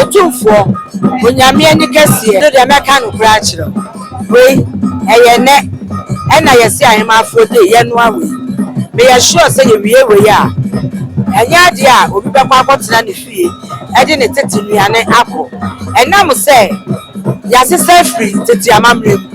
Otumfoɔ, Onyame ani kɛseɛ no deɛ mɛka nokorɛ akyerɛ wo, wei ɛyɛ nnɛ ɛna yɛse Ahemaafoɔ day yɛnoa wei, meyɛ sure sɛ yɛwie wei a ɛnyɛ adeɛ a obi bɛkɔ akɔtena ne fie ɛde ne tete nnuane akɔ ɛnam sɛ yɛasesa afiri tete amammerɛ mu.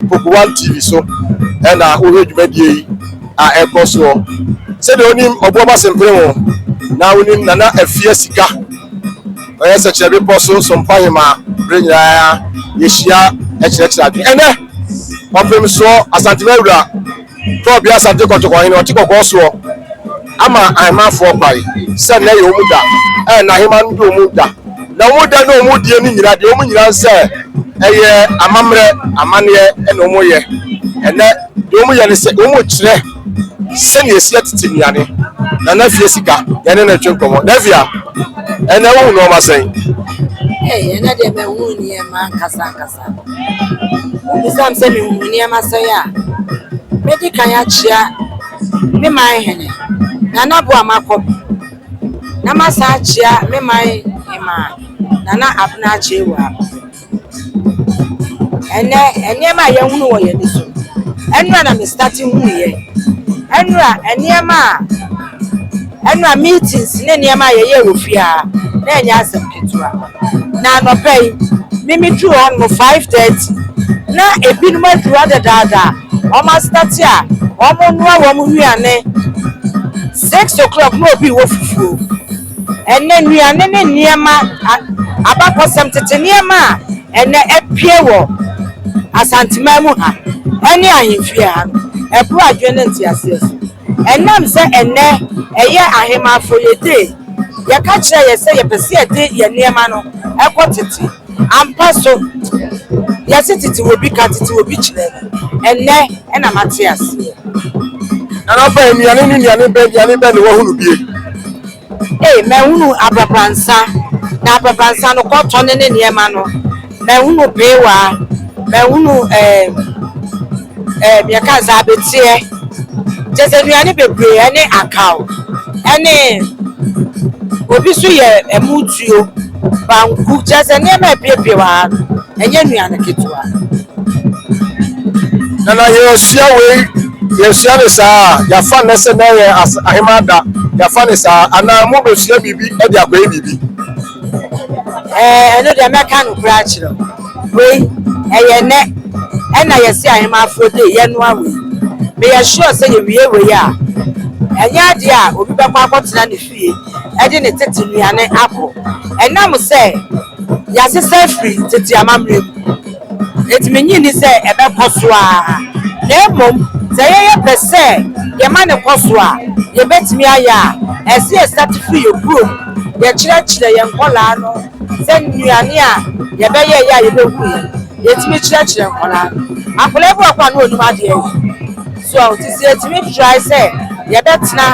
Poku One TV so na wohwɛ dwumadie yi a ɛrekɔ soɔ. Sɛdeɛ wonim Ɔboɔba Sempremo na wonim Nana Afia Sika, ɔyɛ Sɛkyerɛ Bepɔ so Sompoahemaa berɛ nyinaa yɛhyia kyerɛkyerɛ adwene. Ɛnnɛ, ɔpemsoɔ Asantewaa Wura Paul Biya Asante Kɔtɔkɔ hene ɔte kɔkɔɔ soɔ ama ahemanfoɔ kwae sɛ nnɛ yɛ wɔn da a n'aheman no de wɔn da na wɔn da ne wɔn die no nyina deɛ wɔn nyina nsɛ ɛyɛ amammerɛ amaneɛ ɛna wɔn yɛ ɛnɛ deɛ wɔn yɛ ne sɛ wɔn kyerɛ sɛnea ɛsi atete nnuane na na fie sika yɛne no twe nkɔmmɔ na fia ɛnɛ wohu nɔɔma sɛn ɛnɛ deɛ mɛhu nneɛma ankasa ankasa Wobisa me sɛ mehu me nneɛma sɛe a, mɛdi kan akyia me man hene, Nana Boamakɔpe, na masan akyia me man hemaa, Nana Abena Akyewaa. Ɛnɛ nneɛma a yɛhunu wɔ yɛn so, ɛnora na me starte huiɛ, ɛnora nneɛma a. Ɛnna meetings ne nneɛma a yɛyɛɛ wɔ fie ha na ɛnyɛ asɛm ketewa. Na anɔpa yi, me miduu hɔ no mu five thirty, na ebinom aduru hɔ dedaada a wɔastate a wɔrenoa wɔn nnuane. Six o'clock na obi rewɔ fufuo. Ɛnnɛ, nnuane ne nneɛma, a abakɔsɛm tete nneɛma a ɛnnɛ apue wɔ Asanteman mu ha ne ahemfie ha no, ɛboro adwene ne nteaseɛ so. Ɛnam sɛ ɛnnɛ ɛyɛ ahemafo yɛde, yɛka kyerɛ yɛn sɛ yɛpɛ sɛ yɛde yɛn nneɛma no kɔ tete. Ampa so, yɛse tete obi ka, tete obi kyerɛ. Ɛnnɛ na mate aseɛ. Nana fa nnuane ne nnuane bɛ nnuane bɛ na wahunu bie? Ei, mahunu abrabrannsa, na abrabrannsa no kɔtɔ ne ne nneɛma no, mahunu peewaa, mahunu ɛɛm, ɛɛm, yɛka no sɛ abeteɛ, kyerɛ sɛ nnuane bebree, ɛne akaw, ɛne, obi nso yɛ ɛmo tuo. Banku, kyerɛ sɛ nneɛma a ɛpiepie wɔ ha no, ɛnyɛ nnuane ketewa. Na na yɛasua wei, yɛasua no saa a, yɛafa nnɛ sɛ nnɛ yɛ Ahemmaa Da, yɛafa no saa, anaa mobɛsua biribi de akɔyɛ biribi? Ɛɛ, ɛno deɛ mɛka nokorɛ akyerɛ wo. Wei, ɛyɛ nnɛ ɛna yɛse Ahemmaafoɔ Day, yɛnoa wei. Meyɛ sure sɛ yɛwie wei a, ɛnyɛ adeɛ a obi bɛkɔ akɔtena ne. pii de ne tete nnuane akɔ. Ɛnam sɛ yɛasesa afiri tete amammerɛ mu nti, minnye nni sɛ ɛbɛkɔ so ara, na mmom sɛ yɛyɛ pɛ sɛ yɛma no kɔ so a, yebetumi ayɛ a, ɛsɛ yɛstate fi yɛn kurom. Yɛkyerɛkyerɛ yɛn nkwadaa no sɛ nnuane a yɛbɛyɛ yɛ a yebehu yɛn. Yetumi kyerɛkyerɛ nkwadaa no. Akwadaa bi wɔ hɔ a, na onnim adeɛ yɛ. So a ɔte sɛ yɛtumi try sɛ yɛbɛtena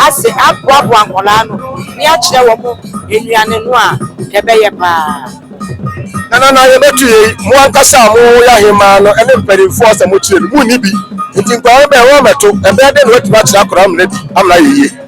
ase aboaboa nkwadaa no ne akyerɛ wɔn nnuane no a ɛbɛyɛ paa? Nanana yɛbɛto yei, mo ankasa a moyɛ ahemaa no ne mpanimfoɔ sɛ mokyerɛ bi, monni bi nti nkwadaa no bɛn wɔn mmɛto, ɛbɛyɛ dɛn na wɔatumi akyerɛ akwadaa no mmara bi amena yɛ yie?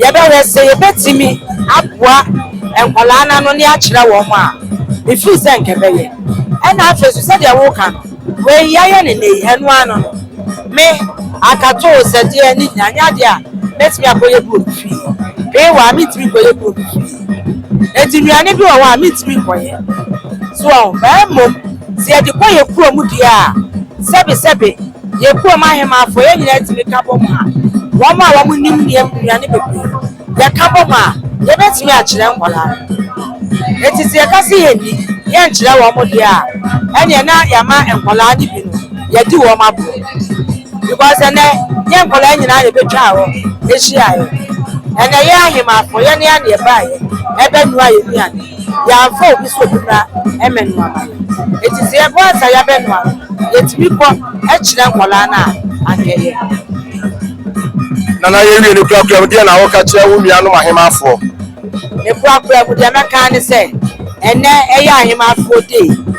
yɛbɛhwɛ sɛ yɛbɛtumi aboa nkwadaa no ano ne akyerɛ wɔn a, mefili sɛ nka ɛbɛyɛ. Ɛna afei nso sɛdeɛ woka no, wei yɛayɛ no nnɛ yi, ɛno ara no no, me akatoo sɛ deɛ ne nyinaa nyɛ adeɛ a mɛtumi akɔyɛ bi wɔ me fie. Wei wɔ ha mentumi nkɔyɛ bi wɔ me fie. Enti nnuane bi wɔ hɔ a mentumi nkɔyɛ. So ɔho? Na mmom sɛ yɛde kɔ yɛn kurom deɛ a, sɛbesɛbe. Yekuam ahemafo, yɛn nyinaa tumi ka bɔ mu a, wɔn a wɔn nim nneɛm nnuane bebree, yɛ ka bɔ mu a, yɛ bɛtumi akyerɛ nkwadaa no. Enti sɛ yɛ ka sɛ yɛ nni, yɛ nkyerɛ wɔn mo deɛ a, ɛneɛ na yɛ ama nkwadaa no bi no, yɛ adi wɔn agorɔ. Because ɛnɛ, yɛ nkwadaa nyinaa na ɛbɛ twaa hɔ, ɛhyiaeɛ. Ɛnɛ yɛ ahemafo, yɛ ne aneɛ baeɛ, ɛbɛ nua yɛ nnuane. Yɛamfa obi so kura mɛ noa ma no enti sɛ yɛbɔ ansa yɛabɛ noa no yɛtumi bɔ kyerɛ nkwadaa no a anka ɛyɛ. Nana yɛwie no kura kura mu deɛ na wo ka kyerɛ wo nua nom ahemaafoɔ? Ne kura kura mu deɛ mɛkaa ne sɛ ɛnɛ ɛyɛ ahemaafoɔ day.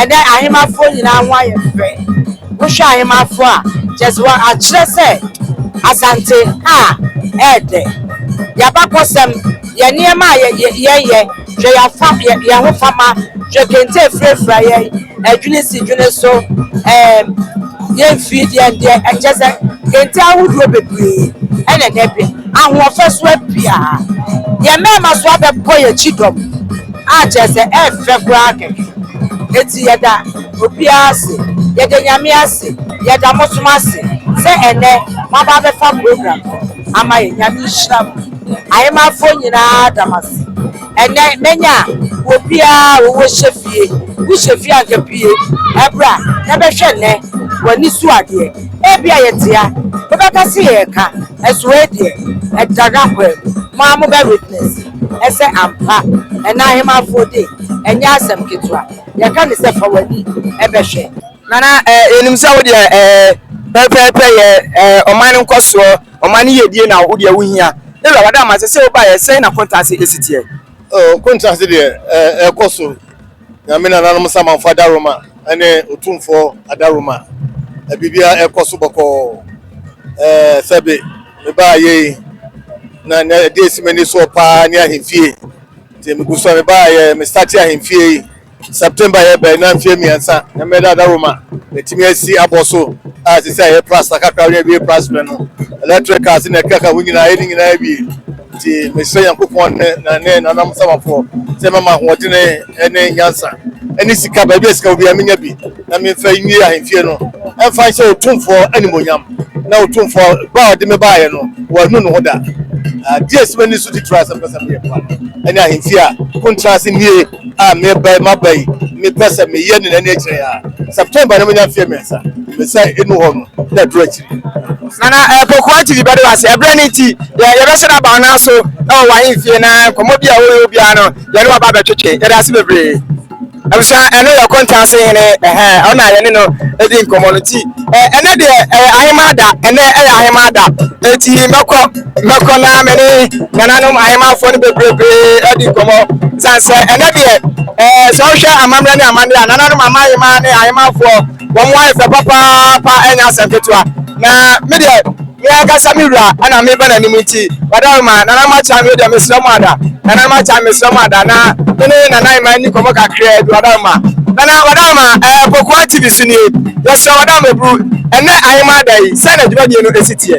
Ɛnɛ ahemafoɔ nyinaa ho ayɛ fɛ. Wohwɛ ahemafoɔ a, kyerɛ sɛ wɔakyerɛ sɛ Asante ha yɛ dɛ. Yɛn abakɔsɛm, yɛn nneɛma a yɛyɛ, hwɛ yɛn ahofama, hwɛ kente a ɛfirafira yɛn, adwini si dwene so, ɛɛm, yɛn mfiri deɛ deɛ, kyerɛ sɛ kente ahodoɔ bebree na ɛnɛ bi. Ahoɔfɛ so apue ara. Yɛn mmarima nso abɛbɔ yɛn akyi dɔm. A kyerɛ sɛ ɛfɛ koraa kɛkɛ. Enti yɛda obiara ase. Yɛda Nyame ase. Yɛda mosom ase sɛ ɛnɛ moaba abɛfa program no ama yɛn. Nyame nhyira mo. Ahemanfoɔ nyinaa da mo ase. Ɛnɛ manya obiara a ɔwɔ hyɛfie. Wo hyɛfie a anka pue bra na bɛhwɛ nnɛ w'ani so adeɛ. Ebia yɛtea, mobɛka sɛ yɛreka, nso wei deɛ ɛda n'akwaa mu. Mo ara mobɛ witness. sɛ ampa ɛna ahemafoɔ de ɛnyɛ asɛm ketewa yɛka ne sɛ fa w'ani bɛhwɛ. Nana eh, yɛnim sɛ wo deɛ eh, pɛpɛɛpɛ yɛ eh, ɔman no nkɔsoɔ ɔman no yɛdie na wo deɛ wohia ɛwura wada ama sɛ sɛ wobaeɛ sɛn na kɔntaase ɛsiteɛ oh, kɔntaase deɛ eh, ɛkɔ so nyame nananom samanfo adaroma ɛne ɔtumfoɔ adaroma eh, biribiara ɛkɔ so bɔkɔɔ eh, sɛbe mebaeɛ yi, na nea ɛde asi m'ani soɔ paa ne ahemfie. Nti megu so a mebaeɛ, mestate ahemfie yi. September yɛ bɛn na mfeɛ mmiɛnsa na mɛda ada Roma. Matumi asi abɔ so a ɛsɛ sɛ ɛyɛ prasta kakra ne awie prasberɛ no. Electricals na ɛkeka ho nyinaa yɛ ne nyinaa awie. Nti mesrɛ Nyankopɔn ne na ne nanam samafoɔ sɛ mɛma ahoɔdene ne nyansa ne sika baabi a sika wɔ biara menya bi. Na memfa nwie ahemfie no mfa nhyɛ Otumfoɔ animuonyam, na Otumfoɔ ba a ɔde me baeɛ no, wannu ne ho da. Adeɛ a ɛsi m'ani so titire ara sɛ mepɛ sɛ meyɛ papa no ne ahemfie a montra ase nnie a mereba yi, maba yi, mepɛ sɛ meyɛ ne n'ani akyerɛ yi ara. September no manya mfeɛ mmiɛnsa, me sɛ ɛnu hɔ no na aduru akyiri. Nana Apokuaa TV bɛde wo ase. Ɛberɛ no nti, yɛ, yɛbɛhyɛ no aba wo nan so wɔ w'ahemfie na nkɔmmɔ bi a woyɛ obiara no, yɛne wo aba abɛtwetwe. Yɛda wo ase bebree. Abusua ɛno yɛ ɔkonta ase hene ɛhɛn ɔna yɛne no ɛdi nkɔmɔ no ti ɛnɛ deɛ ɛyɛ ahemaa da ɛnɛ ɛyɛ ahemaa da eti mɛkɔ mɛkɔ na mɛne nananom ahemaafoɔ no bebree ɛdi nkɔmɔ san sɛ ɛnɛ deɛ ɛɛ sɛ ɔhwɛ amammerɛ ne amanneɛ a nananom amahemaa ne ahemaafoɔ Wɔn ayɛ fɛ papaapa ɛnyɛ asɛm ketewa na me deɛ me ankasa me wura ɛna meba n'anim nti wadaro ma nana ma kyan me deɛ mesrɛ mo ada nana ma kyan mesrɛ mo ada na me ne nana ma ni kɔmɔ kakra bi wadaro ma nana wadaro ma ɛɛ eh, pokoa tv so nie yɛsrɛ wadaro ma buru ɛnɛ ahema ada yi sɛ na dwumadie no ɛsi teɛ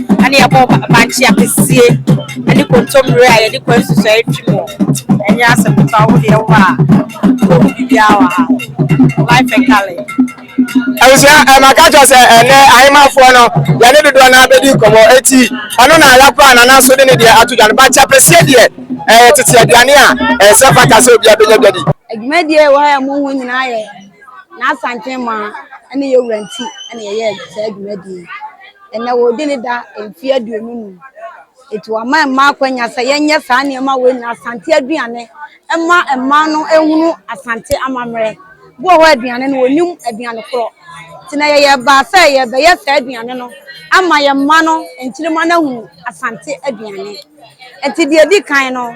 Ɛna yɛbɔ bankye apesie ɛne kontommire a yɛde kɔ nsusuae twi mu. Ɛnyɛ asɛm ketewa wo deɛ wɔ a wobɛhu biribiara wɔ ha. Life and Cali. Abusua ɛma ka kyerɛ sɛ ɛnɛ ahemafoɔ no yɛne dodoɔ no abɛdi nkɔmmɔ eti ɔno na ayakɔ a nana so de ne deɛ ato dwa no bankye apesie deɛ ɛyɛ tete aduane a ɛsɛ fata sɛ obiara bɛnya dwadi. Adwumadie ɛwɔ ha a ɛmu ho nyinaa yɛ n'asanten maa ɛne yɛwura nti ɛna yɛyɛɛ saa adwumadie yi. Ɛnnɛ wɔredi ne da mfe aduonu num. Enti wɔama mmaa akwanya sɛ yɛnyɛ saa nneɛma wei nyinaa, Asante aduane mma mmaa no nhunu Asante amammerɛ. Bi wɔ hɔ aduane no wɔnnim aduane korɔ. Nti na yɛyɛ baa sɛ yɛbɛyɛ saa aduane no ama yɛn mma no, nkyirimma no ahunu Asante aduane. Nti deɛ ɛdi kan no,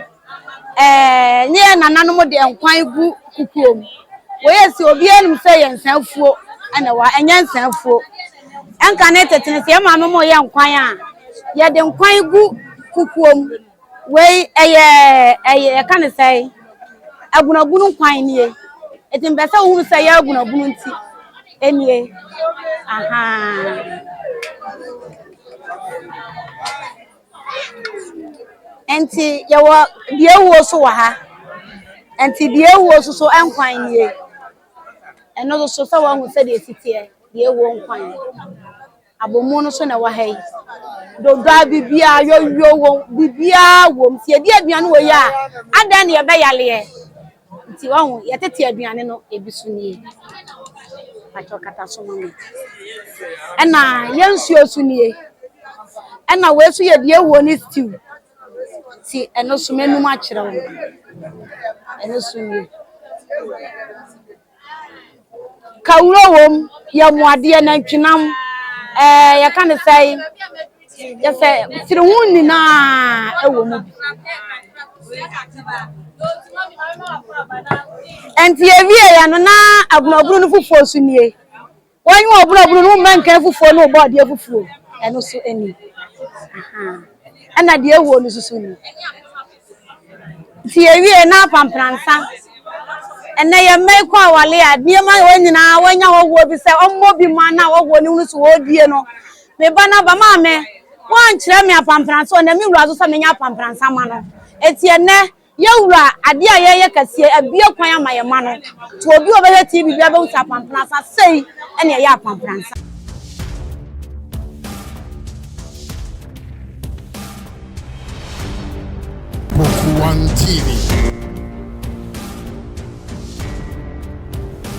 Ɛɛ, ne yɛn nananom de nkwan gu kukuo mu. Wei yɛ sɛ obiara nim sɛ yɛ nsaafuo na ɛwɔ ha, ɛnyɛ nsaafuo. Ɛnka ne tete no, sɛ yɛn maame mo yɛ nkwan a, yɛde nkwan gu kukuo mu. Wei ɛyɛ ɛyɛ yɛka ne sɛ agunagunu nkwan nie. Eti mpɛ sɛ wohunu sɛ yɛ agunagunu nti ɛnie. Ahaa. Nti yɛwɔ deɛ awuo so wɔ ha nti deɛ awuo so so nkwan nie ɛno so so sɛ wahu sɛdeɛ ɛsiteɛ deɛ awuo nkwan abomu no so na ɛwɔ ha yi dodwa biribiaa yɔyɔ wɔ biribiaa wɔ m sɛ yɛdi aduane wɔ yi a adɛn ne yɛbɛyaleɛ Nti wahu yɛtete aduane no ebi so nie atwa kata so ma me ɛna yɛn nsuo so nie ɛna wei so yɛ deɛ wuo ne stew ti ɛno so mɛnum akyerɛ wo ɛno so nie Kawuro wom, yamuadeɛ, nantwinam, ɛɛ yɛka ne sɛ yɛsɛ tiri ho nyinaa ɛwɔ mu bi. Ɛnti yɛwie yɛ no na abunabunu no foforɔ so nie. Wɔnye wo ɔborɔboro no, womma nka afufuo ne wo bɔ adeɛ fufuo, ɛno so ni. Ɛna deɛ ɛwuo no soso ni. Nti yɛwie na apampransa. Ɛnɛ yɛ mma yi kɔ awale a, nneɛma wɔ nyinaa wɔanya hɔhoɔ bi sɛ ɔmmɔ bi ma na hɔhoɔ no hunu so wɔredie no. Me ba no aba, maame, woankyerɛ me apampransa, ɔnam me wura so sɛ menyɛ apampransa ma no. Ɛti ɛnɛ. Yɛn wura adeɛ a yɛyɛ kɛseɛ abue kwan ama yɛn mma no to obi a ɔbɛhwɛ TV biara bɛhu sɛ apampransa sei na ɛyɛ apampransa. Poku One TV.